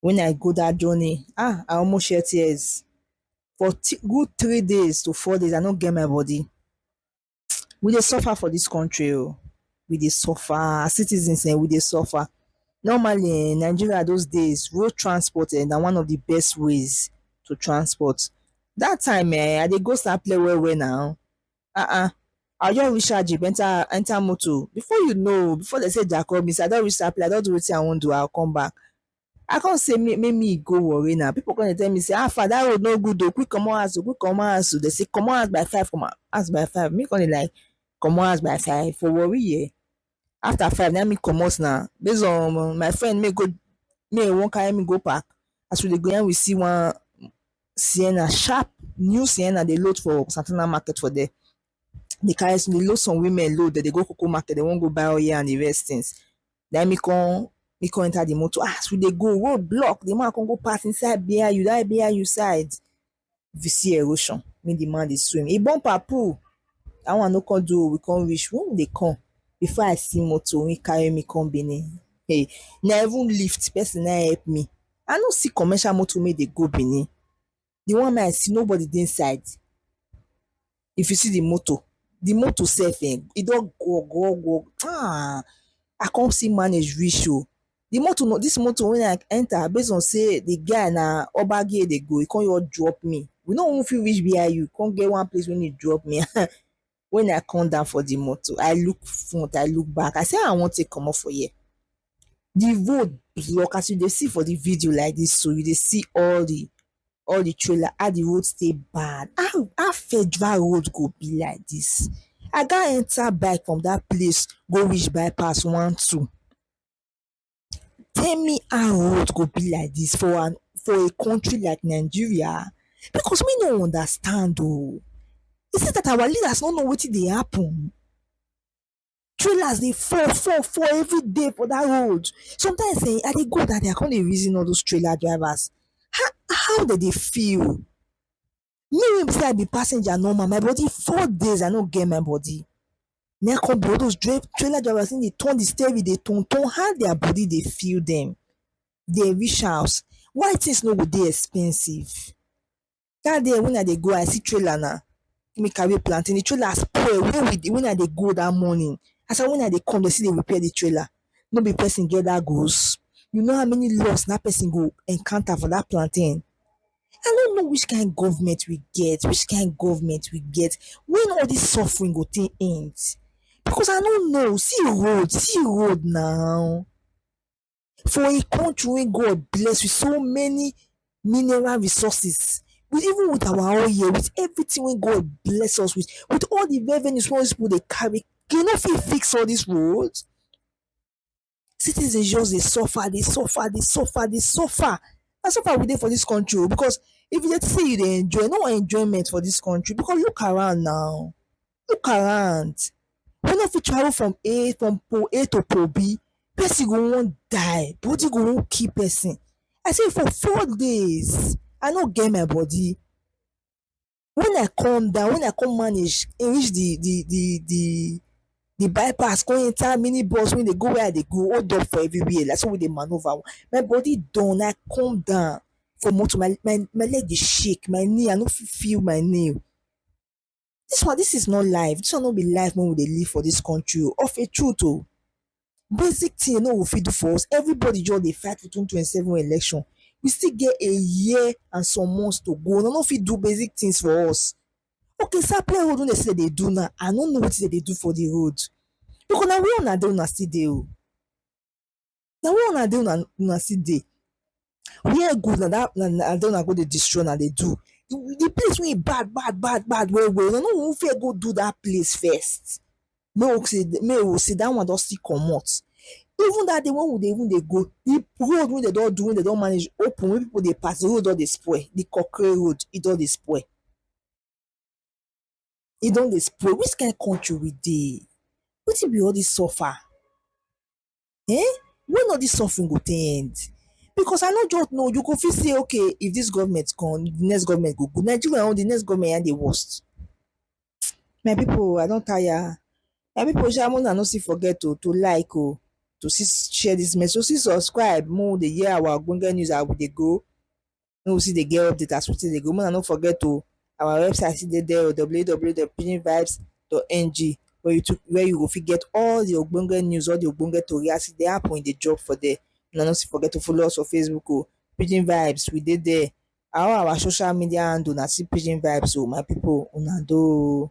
when I go that journey, ah, I almost shed tears. For good three days to four days, I no get my body. We dey suffer for this country o. Oh. We dey suffer. As citizens, eh, we dey suffer. Normally, in eh, Nigeria those days, road transport eh, na one of the best ways to transport. That time, eh, I dey go Sapele well well now. um I go just reach out jeep enter enter motor before you know before dem say dia coming I don reach dat place I don do wetin I wan do I go come back I come say make me go warri na people come dey tell me say how far dat road no good oo quick comot house oo quick comot house oo dem say comot house by five comot house by five me come dey like comot house by five for warri here after five na me comot na base on my friend make e make e wan carry me go park as we dey go na we see one Sienna sharp new Sienna dey load for Santana market for there dey carry dey load some women load dem dey go coco market dey wan go buy oil and the rest things na me come me come enter the motor as we dey go road block the man come go park inside BIU that BIU side If you see erosion, mean the man dey swim. He bumper pull. That one no come do. We come reach. When we dey come, before I see motor, when carry me come Benin. Hey, na even lift person na help me. I no see commercial motor make dey go Benin. The one wey I see, nobody dey inside. If you see di motor, di motor sef um e don gwo gwo gwo um I come still manage reach oh. Di motor na dis motor wey I enter base on sey di guy na ogbage e dey go, e come just drop me. We no even fit reach wia u, e come get one place wey e drop me um. Wen I come down for di motor, I look front, I look back, I sey how I wan take comot for here? the road block as you dey see for the video like this so you dey see all the all the trailer how the road stay bad how how federal road go be like this i got enter bike from that place go reach bypass one two tell me how road go be like this for an for a country like nigeria because me no understand o is it that our leaders no know wetin dey happen Trailers dey fall fall fall every day for dat road sometimes um I dey go dat day I come dey reason all those trailer drivers how how dem dey feel me wey be sey I be passenger normal my body four days I no get my body na im come be all those trailer drivers come dey turn de steering dey turn turn how their body dey feel dem dem reach house why things no go dey expensive. dat day wen I dey go I see trailer na make me carry plantain, di trailer spoil wen we dey wen I dey go dat morning as I wen I dey come dey still dey repair di trailer no be person get dat goods? you know how many loss dat person go encounter for dat plantain? I no know which kind government we get which kind government we get wen all dis suffering go take end? because I no know see road see road na. For a country wey God bless with so many mineral resources, with even with our own here, with everything wey God bless us with, with all the revenues wey all these people dey carry, dem no fit fix all these roads? Citizens just dey suffer, dey suffer, dey suffer, dey suffer. Na suffer we dey for this country o because if you dey think say you dey enjoy, no enjoyment for this country because look around now. look around we no fit travel from A from pole A to pole B person go wan die body go wan kill person I say for four days I no get my body when I come down when I come manage reach the the the the the bypass come enter mini bus wey dey go where I dey go hold up for everywhere na so we dey manoeuvre my body done I come down for motor my my leg dey shake my knee I no fit feel my knee Dis one dis is not life, dis one no be life wey we dey live for dis country o of a truth o. Basic thing no go fit do for us, everybody just dey fight for twenty twenty seven election, we still get a year and some months to go una no fit do basic things for us. Okay sapele road wey dey say dey dey do now I no know wetin dey dey do for de road because na where una dey una still dey o. na where una dey una una still dey where good na that na na there una go dey destroy una dey do the place wey e bad bad bad bad well well una no go even fear go do that place first make we say make we say that one don still comot even that day wey we dey even dey go the road wey dem don do wey dem don manage open wey people dey pass the road don dey spoil the concrete road e don dey spoil E don dey spoil, which kind country we dey, wetin be all dis suffer um when all dis suffering go take end because I no joke oo, you go fit say okay if dis government come de next government go good, Nigeria own de next government na im dey worst my pipu o I don tire, my pipu sha make una no still forget to like oo, to still share dis message, to still subscribe make we dey hear our ogbonge news as we dey go. make we still dey get update as we take dey go make una no forget oh our website still dey there oh www dot pidgin vibes dot ng where you to where you go fit get all the ogbonge news all the ogbonge tori as e dey happen e dey drop for there una no still forget to follow us for facebook oh pidgin vibes we dey there all our social media handle na still pidgin vibes oh my people una doh oh.